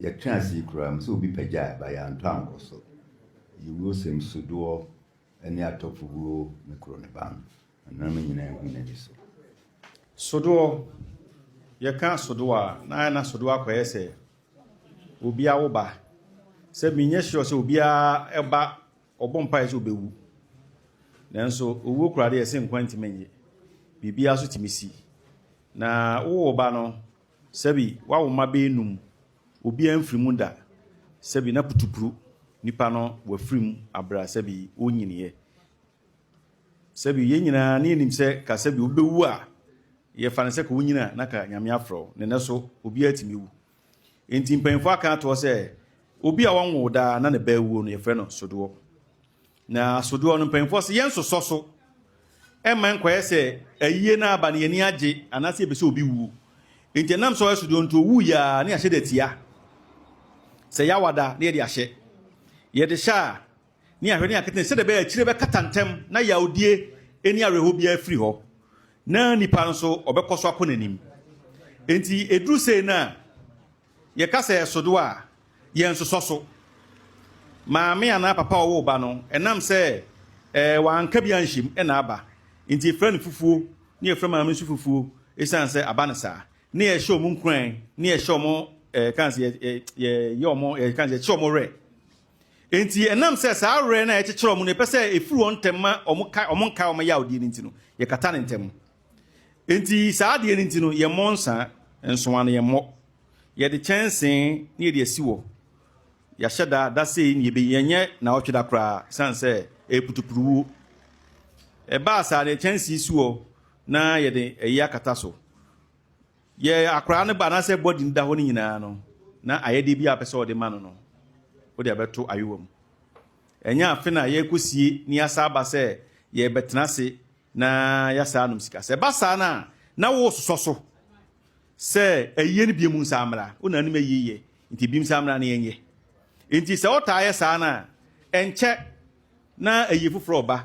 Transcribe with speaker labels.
Speaker 1: Yɛtwe ase yi koraa mu sɛ obi pagyaa ba yɛantɔ ankɔ so. Yewurosɛm Sudoɔ ne Atɔfo wuo ne koro ne ban. Anuanom nyinaa hui n'ani so. Sudoɔ,
Speaker 2: Yɛka Sudoɔ a, na ayɛ na Sudoɔ akɔyɛ sɛ obi awo ba. Sɛ menyɛ sure sɛ obiara ba ɔbɔ mpaeɛ sɛ ɔbɛwu. Nanso owuo koraa deɛ ɛse nkwa ntumi nnye. Biribiara nso tumi si. Na wowɔ ba no, Sɛbi wawo mma bɛyɛ num, obiara mfiri mu da, sɛbi na putupuru nipa no wafiri mu abrɛ a sɛbi ɔnnyiniiɛ. Sɛbi yɛn nyinaa ne yɛnim sɛ ka sɛbi obi bɛwu a yɛfa no sɛ ka wonyini a na ka Nyame afrɛ wo, na ɛnɛ so obiara tumi wu. Enti mpanyimfoɔ aka ato hɔ sɛ obi a ɔnwoo daa na ne ba awuo no yɛfrɛ no sodoɔ. Na asodoɔ no, mpanyinfoɔ se, Yɛnsosɔ so mma nkɔyɛ sɛ ayie no aba no yɛn ani agye anaasɛ yɛpɛ sɛ obi wuo. Enti ɛnam sɛ ɔyɛ sodoɔ nti owuiɛ a, na yɛahyɛ da tia. Sɛ yɛawada na yɛde ahyɛ. Yɛde hyɛ a, na yɛahwɛ na yɛakata ne sɛdeɛ ɛbɛyɛ akyire bɛkata ntɛm na yawdie ne awerɛhoɔ biara afiri hɔ na nipa nso ɔbɛkɔ so akɔ n'anim. Enti ɛduru sei no a, Yɛka sɛ ɛsodo a, yɛnsosɔ so. Maame anaa papa a ɔwoo ba no, ɛnam sɛ wanka bi anhyɛ mu na aba nti, yɛfrɛ no fufuo, na yɛfrɛ maame nso fufuo ɛsiane sɛ aba no saa. Na yɛhyɛ wɔn nkuran, na yɛhyɛ wɔn, yɛka sɛ yɛyɛ wɔn, yɛka sɛ yɛkyerɛ wɔn werɛ. Enti ɛnam sɛ saa werɛ no a yɛkyekyerɛ wɔn no, yɛpɛ sɛ ɛfiri wɔn ntɛm ma wɔn nkae wɔn yawdeɛ no nti no, yɛkata no ntɛm. Enti saa adeɛ no nti no, yɛmmɔ nsa, nsowa no yɛmmɔ. Yɛde kyɛnsee na yɛde asi hɔ. Yɛahyɛ da, da sei na yɛbɛyi, yɛnyɛ naawɔtwe da koraa, ɛsiane sɛ ɛyɛ putupuruwuo. Ɛbaa saa no, yɛde kyɛnsee si hɔ na yɛde ɛyi akata so. Yɛ akoraa no ba anaasɛ bɔdi no da hɔ no nyinaa no, na ayɛdeɛ bi a wopɛ sɛ wɔde ma no no, wode abɛto ayowa mu. Ɛnyɛ afe no a yɛrekɔsie na yɛasa aba sɛ yɛrebɛtena ase Na yɛasaa nom sika. Sɛ ɛba saa no a, na woresosɔ so sɛ ayiyɛ no binom nsa mmra. Wo na anim ayiyɛ yɛ, nti binom nsa mmra na yɛnyɛ. Enti sɛ wotaa yɛ saa no a, ɛnkyɛ na ayiyɛ foforɔ reba.